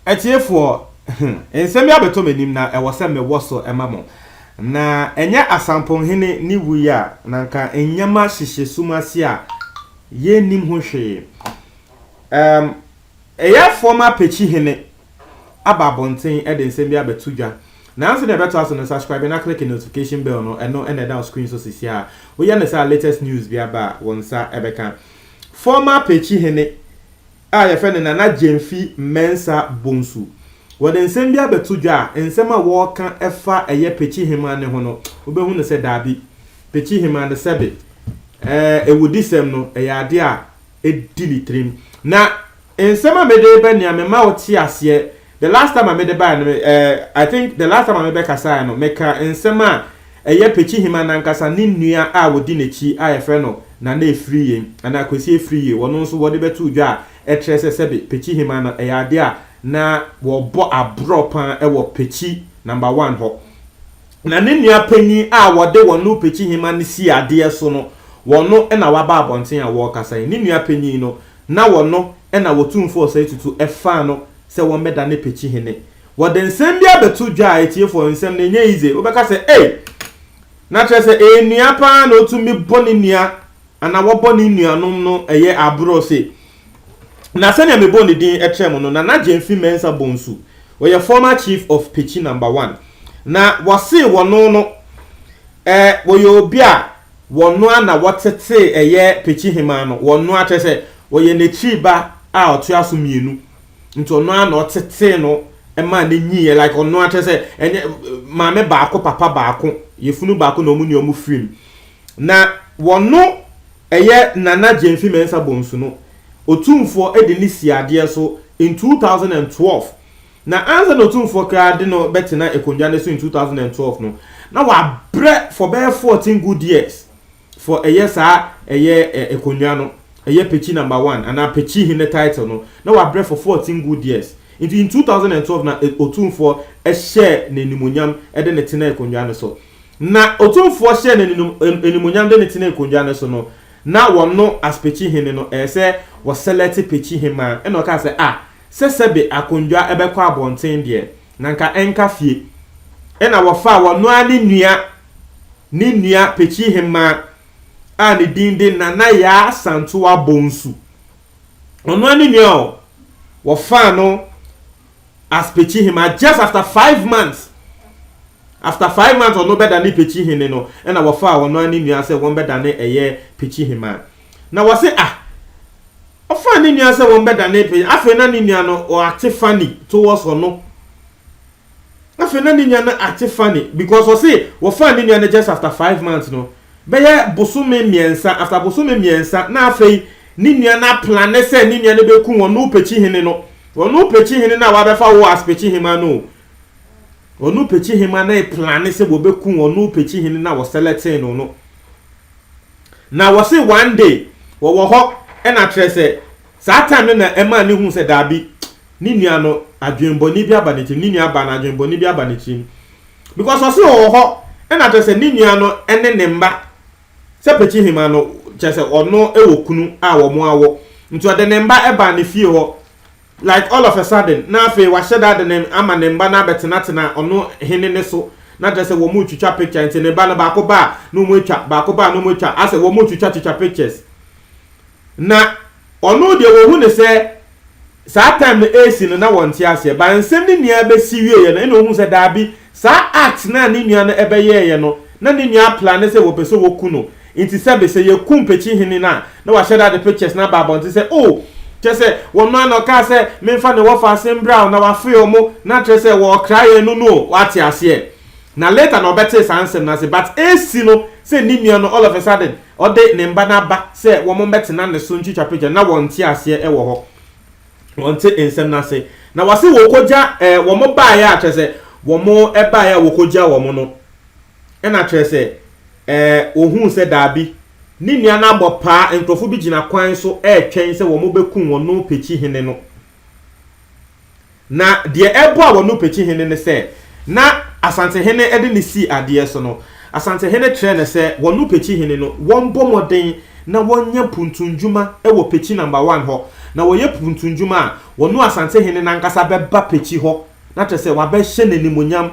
Atiefoɔ, nsɛm bi abɛtɔ m'anim na ɛwɔ sɛ mewɔ so ma mo. Na ɛnyɛ Asamponhene ne wuiɛ a, na nka nneɛma hyehyɛ sum ase a yɛnnim ho hwee. Um, Ɛyɛ fɔɔ ma Pekyi hene aba abɔnten de nsɛm bi abɛto dwa. Nanso nea ɛbɛtoa so no, subscribe na click notification bell no, ɛno na ɛda wo screen so sesiaa. Woyɛ no saa a latest news bi aba a wo nsa bɛka. Fɔɔ ma Pekyi hene a yɛfrɛ no Nana Gyamfi Mensah Bonsu, wɔde nsɛm bi abɛto dwa a nsɛm a wɔreka fa ɛyɛ Pekyi heman no ho no, wobɛhu no sɛ daabi, Pekyi heman no sɛbe ɛɛ awudisɛm no ɛyɛ adeɛ a di ne tirim. Na nsɛm a mede reba nea mema wo te aseɛ, the last time a mede baeɛ no, eh, I think the last time a mebɛkasaeɛ no, meka nsɛm a ɛyɛ Pekyihima no ankasa ne nua a wɔdi n'akyi a yɛfrɛ no Nana Efiriye anaa Kwesi Efiriye, wɔno nso wɔde bɛtoo dwa a ɛkyerɛ sɛ sɛbe Pekyihima no ɛyɛ adeɛ a na wɔbɔ aborɔ paa wɔ Pekyi Number One hɔ. Na ne nua panyin a wɔde wɔn no pekyihema no sii adeɛ so no, wɔno na waba abɔnten a wɔrekasa yi. Ne nua panyin no, na wɔno na wɔtumfoɔ ɔsɛe tutu faa no sɛ wɔmmɛda ne pekyihene. Wɔde nsɛm bi abɛto dwa a atiefoɔ nsɛm no ɛnyɛ yize. Wobɛka sɛ, Ei! Na kyerɛ sɛ ɛyɛ nua paa na ɔtumi bɔ ne nua Ana wɔbɔ ne nuanom no yɛ aborɔ se, Na sɛnea mebɔɔ ne din kyerɛɛ mo no, Nana Gyamfi Mensah Bonsu, ɔyɛ former Chief of Petchy Number One, na wɔse wɔno no eh, wɔyɛ obi a wɔnoa na wɔtetee ɛyɛ Petchy Hemaa no, wɔnoa kyerɛ sɛ wɔyɛ n'akyiri ba a ɔtoa so mmienu, nti ɔno ara na ɔtetee no maa no nyiiɛ, like ɔnoa kyerɛ sɛ ɛnyɛ maame baako papa baako, yɛfunu baako na wɔn nua wɔn firim, Na wɔno ɛyɛ Nana Gyamfi Mensah Bonsu no Otumfoɔ de ne sii adeɛ so in two thousand and twelve. Na ansa na Otumfoɔ koraa de no bɛtena akonnwa no so in two thousand and twelve no, na wabrɛ for bɛyɛ fourteen good years for ɛyɛ saa ɛyɛ akonnwa no, ɛyɛ Pekyi Number One anaa Pekyi Hene title no, na wabrɛ for fourteen good years. Nti in two thousand and twelve na Otumfoɔ hyɛɛ no animuonyam de no tenaa akonnwa no so. Na Otumfoɔ hyɛɛ no aninum, animuonyam de no tenee kondwa no so no, na wɔno aspekyi hene no, ɛyɛ sɛ wɔsɛlɛte pekyi hemmaa, ɛna ɔkaa sɛ, Ah, sɛ sɛbe akondwa bɛkɔ abɔnten deɛ, na nka ɛnka fie. Ɛna wɔfaa wɔno ara ne nua, ne nua pekyi hemmaa a ne din de Nana Yaa Santoa Bonsu, ɔno ara ne nua o, wɔfaa no, as Pekyihema just after five months after five months ɔno bɛdane Pekyihene no ɛna wɔfaa ɔno ara ne nua sɛ wɔn bɛdane ɛyɛ Pekyihema na wɔse ah ɔfaa ne nua sɛ wɔn bɛdane pe afei na ne nua no ɔate funny towards ɔno afei na ne nua no ate funny because ɔse wɔfaa ne nua no just after five months no bɛyɛ bosome mmiɛnsa, after bosome mmiɛnsa na afei ne nua no aplane sɛ ne nua no bɛku wɔn no pekyi hene no, wɔn no pekyi hene no a wabɛfa wo as pekyi hema no o, wɔn no pekyi hema no plane sɛ wɔbɛku wɔn no pekyi hene no a wɔsɛlɛtee no no. Na wɔse one day wɔwɔ hɔ ɛna kyerɛ sɛ saa time no na ɛma ne hu sɛ daabi ne nua no adwenbɔne bi aba ne tirim, ne nua baa no adwenbɔne bi aba ne tirim. Because ɔse ɔwɔ hɔ ɛna kyerɛ sɛ ne nua no ne ne mma sɛ Pekyehima no kyerɛ sɛ ɔno wɔ kunu a wɔn awɔ nti ɔde ne mma baa ne fie hɔ like all of a sudden na afei wahyɛ da de ne ama ne mma no abɛtenatena ɔno hene no so na kyerɛ sɛ wɔn retwitwa picture nti ne ba no baako ba a na wɔn atwa baako ba a na wɔn atwa asɛ wɔn retwitwa twitwa pictures Na ɔno deɛ wɔhu no sɛ saa time no ɛresi no na wɔnte aseɛ but nsɛm no nyinaa bɛsi wieeɛ no ɛna ɔhuu sɛ daabi saa act no a ne nua no ɛbɛyɛeɛ no na ne nua aplane sɛ wɔpɛ sɛ wɔku no nti sɛbe sɛ yɛku Mpekyi-hene no a na wahyɛ da de pictures no aba abɔnten sɛ oh kyerɛ sɛ wɔn no a na ɔkaa sɛ memfa ne wɔfa ase mbra o na wafrɛ wɔn na kyerɛ sɛ wɔɔkra yɛn no no o woate aseɛ. Na later na ɔbɛtee saa nsɛm no ase but ɛresi no sɛ ne nua no all of a sudden ɔde ne mba no aba sɛ wɔn mmɛtena ne so ntwitwa picture na wɔnte aseɛ wɔ hɔ. Wɔnte nsɛm no ase. Na wɔse wɔkɔgya eh wɔn baeɛ a kyerɛ sɛ wɔn baeɛ a wɔkɔgyaa wɔn no ɛna kyerɛ sɛ eh ɔhuu sɛ daabi ne nua no abɔ paa nkurɔfo bi gyina kwan so ɛretwɛn sɛ wɔn bɛkum wɔn no pɛkyi hene no. Na deɛ ɛboaa wɔn no Pekyi hene ne sɛ, na Asante hene de no sii adeɛ so no, Asante hene kyerɛɛ no sɛ wɔn no Pekyi hene no wɔnbɔ mmɔden na wɔnyɛ mpuntunnwuma wɔ Pekyi Number One hɔ, na wɔyɛ mpuntunnwuma a, wɔn no Asante hene no ankasa bɛba Pekyi hɔ, na kyerɛ sɛ wabɛhyɛ no animuonyam.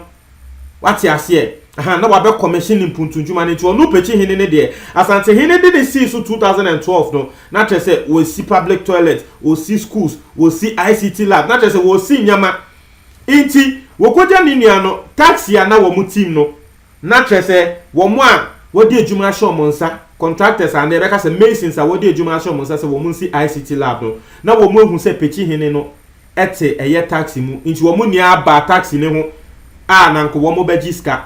Wate aseɛ? Ahaa, na wabɛ commission ne mpuntunnwuma no, nti ɔno pɛkyi hene no deɛ, Asante hene de ne sii so 2012 no, na kyerɛ sɛ wɔasi public toilet, wɔsi schools, wɔsi ICT lab, na kyerɛ sɛ wɔsi nneɛma, nti wɔkɔgya ne nua no, taxi a na wɔn team no, na kyerɛ sɛ wɔn a wɔde adwuma ahyɛ wɔn nsa, contractors anaa yɛbɛka sɛ masons a wɔde adwuma ahyɛ wɔn nsa sɛ wɔn nsi ICT lab no, na wɔn ahu sɛ pɛkyi hene no, te ɛyɛ taxi mu nti wɔn nyinaa baa taxi ne ho a na nka wɔn bɛgye sika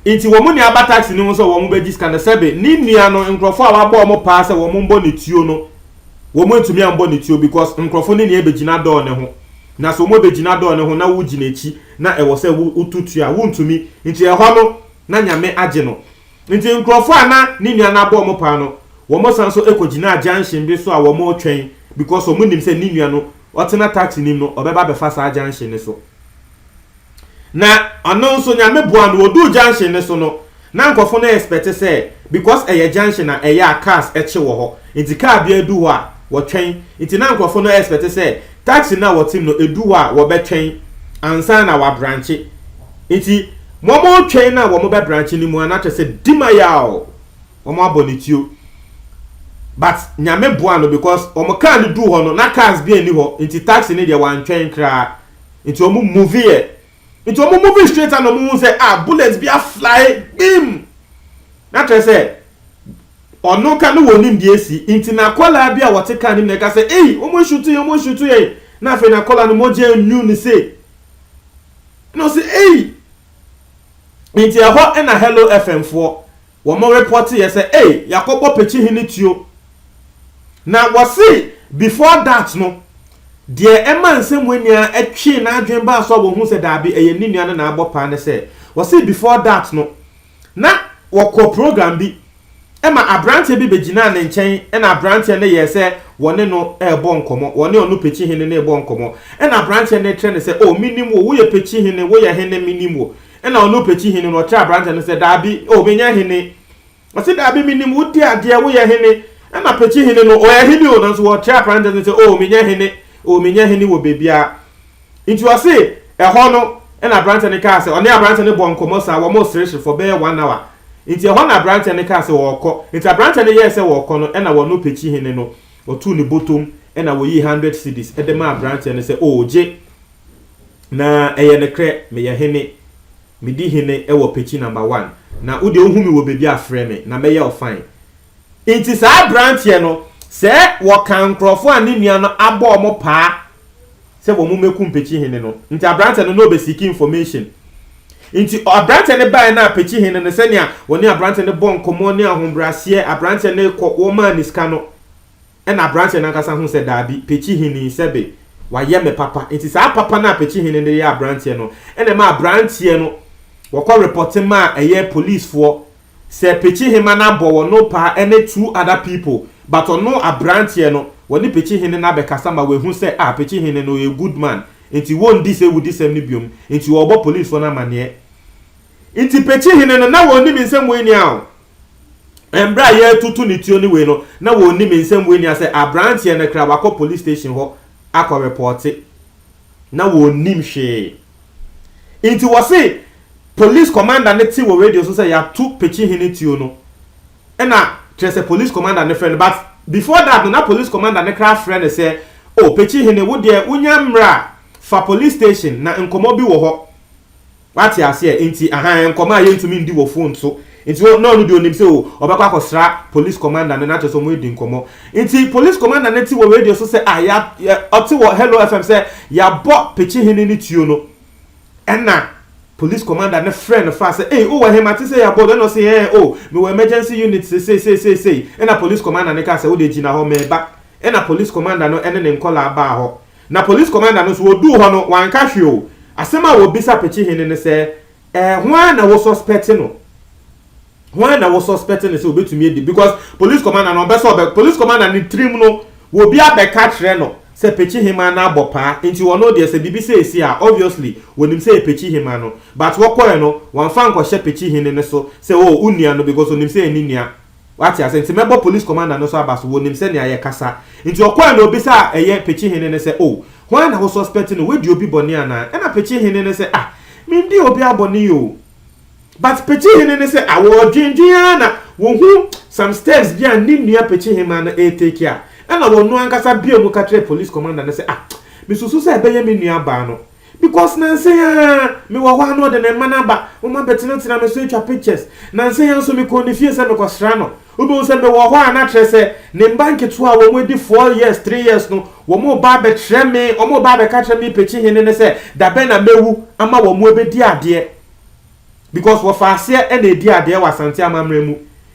nti wɔn nyinaa ba taxi ne ho sɛ wɔn bɛgye sika na sɛbe ne nua no nkurɔfoɔ a wabɔ wɔn paa sɛ wɔn mbɔ ne tuo no wɔn ntumi ambɔ ne tuo because nkurɔfoɔ ne nyinaa bɛgyina dɔɔ ne ho na sɛ wɔn bɛgyina dɔɔ ne ho na wogyina akyi na ɛwɔ sɛ wotu tuo a wontumi nti ɛhɔ no na nyame agye no Enti nkurɔfo a na ne nua no abɔ wɔn paa no, wɔsan nso kogyinaa junction bi so a wɔretwɛn because wɔnim sɛ ne nua no, ɔtena taxi no mu no, ɔbɛba abɛfa saa junction no so. Na ɔno nso, Nyame boaa no, wɔduu junction no so no, na nkurɔfo no expect sɛ because ɛyɛ junction a ɛyɛ a cars kye wɔ hɔ, enti car biara du hɔ a, wɔtwɛn, enti na nkurɔfo no expect sɛ Taxi no a wɔte mu no, edu hɔ a wɔbɛtwɛn ansa na wɔabrankye. Enti wɔretwɛn no a wɔbɛbrankye no mu a na kyerɛ sɛ Dimayaw, wɔabɔ ne tuo. But Nyame boaa no because wɔn car no duu hɔ no na cars biara nni hɔ nti taxi no deɛ wɔantwɛn koraa nti wɔn move yɛ Nti ɔmo moving straight a na ɔmo hu sɛ ah bullet bi a fly gbim! Na kyerɛ sɛ ɔno ka ne wɔnim deɛ asi nti n'akwadaa bi a wɔte car nim na ɛka sɛ ei ɔmo reshoot yɛn ɔmo reshoot yɛn na afei n'akwadaa no mogya anwunu ne se na ɔse ei! Nti ɛhɔ na Hello FM foɔ Wɔn repɔte yɛ sɛ ei yɛakɔbɔ pekye he ne tuo. Na wɔse before that no, deɛ ɛma Nsɛmmoa ni ara twee n'adwene baa so a wɔhuu sɛ daabi ɛyɛ ne nua no na abɔ paa ne sɛ, wɔse before that no, na wɔkɔ program bi ma abranteɛ bi bɛgyinaa ne nkyɛn na abranteɛ no yɛɛ sɛ wɔne no rebɔ nkɔmmɔ, wɔne ɔno pekye hene no rebɔ nkɔmmɔ na abranteɛ no rekyerɛ no sɛ oh menim wo, woyɛ pekye hene, woyɛ hene menim wo. Ɛnna ɔno pɛkyi hene no ɔkyerɛɛ aberanteɛ no sɛ, Daabi, o menyɛ hene. Ɔse, Daabi, menim wo di adeɛ, woyɛ hene. Ɛnna pɛkyi hene no, ɔyɛ hene o, nanso ɔkyerɛɛ aberanteɛ no sɛ, o menyɛ hene, o menyɛ hene wɔ baabiara. Nti ɔse, Ɛhɔ no, ɛnna aberanteɛ no kaa sɛ, ɔne aberanteɛ no bɔɔ nkɔmmɔ saa, wɔreseresere for bɛyɛ one hour. Nti ɛhɔ na aberanteɛ no kaa sɛ ɔrekɔ. Nti aberanteɛ no yɛɛ sɛ ɔrekɔ no, ɛnna ɔno pɛkyi hene no ɔtoo ne bɔtɔm, ɛnna ɔyii hundred cedis de maa aberanteɛ no sɛ, o gye. Na ɛyɛ nokorɛ, meyɛ hene, medi hene wɔ pɛkyi number one, na wo deɛ wohu me wɔ baabi a frɛ me na mɛyɛ wo fine. Nti saa abranteɛ no sɛ wɔka nkorɔfoɔ a ne nua no abɔ wɔn paa sɛ wɔn mmɛkum pɛkyi hene no nti abranteɛ no na ɔbɛ seeki information nti abranteɛ no baeɛ no a pɛkyi hene no sɛnea wɔne abranteɛ no bɔ nkɔmmɔ ne ahobraseɛ abranteɛ no kɔ wɔmaa ne sika no Ɛnna aberanteɛ no ankasa hu sɛ daabi, Pekyi Hene, sɛbe wayɛ me papa. Enti saa papa no a Pekyi Hene no de yɛɛ aberanteɛ no na ɛmaa aberanteɛ no, wɔkɔ repɔte maa ɛyɛ polisfoɔ sɛ Pekyi Hema no abɔ wɔn no paa ɛne two other people but ɔno aberanteɛ no, wɔne Pekyi Hene no abɛkasa ma wahu sɛ ah, Pekyi Hene no ɔyɛ good man enti wɔndi sɛ wudisɛm no biom enti ɔrebɔ polisfoɔ no amaneɛ. Enti Pekyi Hene no, na wɔnnim nsɛm wei nni a o, Mbrɛ a yɛatutu ne tuo ne wei no, na wɔnnim nsɛm wei nia sɛ abranteɛ no kra wakɔ police station hɔ akɔ repɔɔte. Na wɔnnim hwee. Nti wɔse police commander no te wɔ radio so sɛ yɛatu Pekyehene tuo no, ɛna kyerɛ sɛ police commander no frɛ no, but before that no na police commander no kra frɛ no sɛ, Oh, Pekyehene, wo deɛ wonya mmra fa police station na nkɔmmɔ bi wɔ hɔ. Wate aseɛ? Nti, ahaa, nkɔmmɔ a yɛntumi ndi wɔ fon so. Nti, wo, na ɔno deɛ ɔnim sɛ, oh, ɔbɛkɔ akɔsra Polis Kɔmanda no, na kyerɛ sɛ wɔadi nkɔmmɔ. Nti, Polis Kɔmanda no te wɔ radio so sɛ, ah, yɛ, yɛ, ɔte wɔ Hello FM sɛ, yɛabɔ Pekyehene no tuo no. Ɛnna Polis Kɔmanda no frɛɛ no faa sɛ, ei, wowɔ he? Mate sɛ yɛabɔ wo. Ɛnna ɔse, ɛɛ, oh, mewɔ Emergency Unit seesei, seesei, sei. Ɛnna Polis Kɔmanda no kaa sɛ, wo deɛ gyina hɔ, mereba. Ɛnna Polis Kɔmanda no ne ne nkɔlaa baa hɔ. Na Police Commander no nso oduu hɔ no wanka hwee o, asɛm a obisa Pekyehene no sɛ, Eh, hwan na wo suspect no? Hwan na wo suspect no sɛ obetumi adi? Because Police Commander no ɔmpɛ sɛ ɔbɛ, Police Commander no tirim no obi abɛka akyerɛ no sɛ Pekyehema no abɔ paa, nti ɔno deɛ sɛ biribi sei si a obviously onim sɛ ɛyɛ Pekyehema no, but wɔkɔɛ no wamfa ankɔhyɛ Pekyehene no so sɛ oh wo nua no because onim sɛ ɛyɛ ne nua. Wate ase? Nti mɛbɔ police commander no nso aba so, wɔnim sɛnea yɛkasa. Nti ɔkɔɔe na ɔbisa a ɛyɛ Pekyi Hene no sɛ, Oh, hwan na wo suspect no, wadi obi bɔne anaa? Ɛna Pekyi Hene no sɛ, Ah, mendii obiara bɔne o. But Pekyi Hene no sɛ, ah, wɔredwendwen ara na wɔhu some steps bi a ne nua Pekyi Hemmaa no retake a, ɛna ɔno ankasa bue mu ka kyerɛɛ police commander no sɛ, Ah, mesusu sɛ ɛbɛyɛ me nua baa no, Because nnansa yi ara mewɔ hɔ a na ɔde ne mma no aba, wɔma bɛtenatena me so atwa pictures. Nnansa yi ara nso mekɔɔ ne fie sɛ mekɔsra no. Wobɛhu sɛ mewɔ hɔ a na kyerɛ sɛ ne mma nketewa a wɔn adi four years, three years no, wɔn reba abɛkyerɛ me, wɔn reba abɛka akyerɛ me Pekyi hene no sɛ da bɛn na mɛwu ama wɔn abɛdi adeɛ. Because wɔfa aseɛ na ɛdi adeɛ wɔ Asante amammerɛ mu.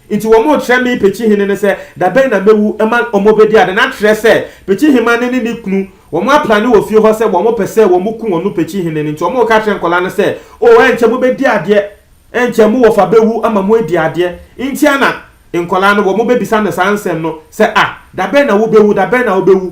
Nti wɔn rekyerɛ me Pekyi hene no sɛ da bɛn na mɛwu ma wɔn abɛdi adeɛ. Na kyerɛ sɛ Pekyi hemane ne ne kunu Wɔapra no wɔ fie hɔ sɛ wɔpɛ sɛ wɔku wɔn Pekyi hene no nti wɔreka akyerɛ nkwadaa no sɛ, Oh, ɛnkyɛ mobɛdi adeɛ, ɛnkyɛ mo wɔfa bɛwu ama moadi adeɛ. Nti a na nkwadaa no wɔbɛbisa no saa nsɛm no sɛ, Ah, da bɛn na wobɛwu, da bɛn na wobɛwu?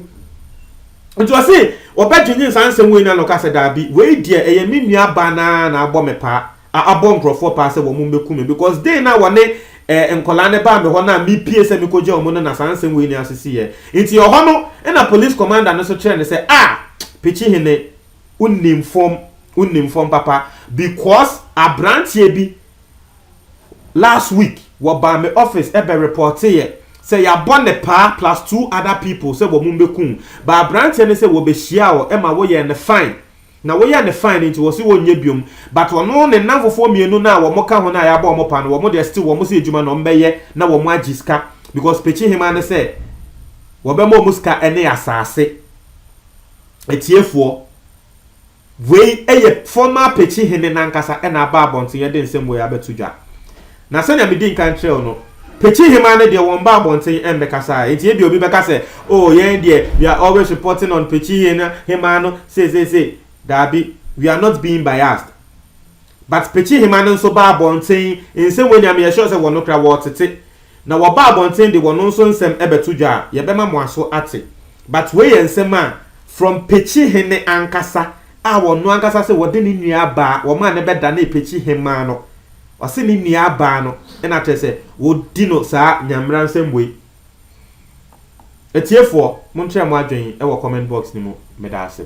Nti ɔse ɔbɛdwennwene saa nsɛm wei no na ɔka sɛ, Daabi, wei deɛ ɛyɛ me nuabaa no ara na abɔ me paa. a abɔ nkorɔfoɔ paa sɛ wɔn mmɛku me because day no a wɔne eh, nkwadaa no baa me hɔ no a mepie sɛ mekɔgya wɔn no na saa nsɛm wei nyinaa sisiiɛ nti ɛhɔ no na police commander no nso kyerɛ no sɛ ah Pikyi Hene wonim fam wonim fam papa because aberanteɛ bi last week wɔbaa me office ɛbɛ reporteeɛ sɛ yɛabɔ ne paa plus two other people sɛ wɔn mmɛku ba aberanteɛ no sɛ wɔbɛhyia ɔ ɛma woyɛɛ no fine Na woyɛ no fine nti wɔse wɔnyɛ biom but ɔno ne nnamfofoɔ mmienu no a wɔn ka ho no a yɛabɔ wɔn paa no wɔn deɛ still wɔn se adwuma na wɔn bɛyɛ na wɔn agye sika because Pekyehema no sɛ wɔbɛma wɔn sika ne asaase Atiefoɔ wei yɛ former Pekyehene no ankasa na aba abɔnten de nsɛm wei abɛto dwa Na sɛnea midii kan kyerɛɛ wo no, Pekyehema no deɛ wɔmma abɔnten mmɛkasa. Enti ebia obi bɛka sɛ, Oh, yɛn deɛ, we are always reporting on Pekyehema no seiseisei. Dabi, we are not being biased. But Pekyehema no nso ba abɔnten, nsɛm wei nea meyɛ sure sɛ wɔn koraa wɔtete. Na wɔba abɔnten de, wɔn nso nsɛm bɛto dwa a, yɛbɛma mo aso ate. But wei yɛ nsɛm a, from Pekyehene ankasa a ɔno ankasa se wɔde ne nua baa, wɔmaa no bɛdanee Pekyehema no. Ɔse ne nua baa no na kyerɛ sɛ wɔdi no saa nyamera nsɛmbue. Atiefoɔ monkyerɛ mo adwen wɔ comment box no mu. Medaase.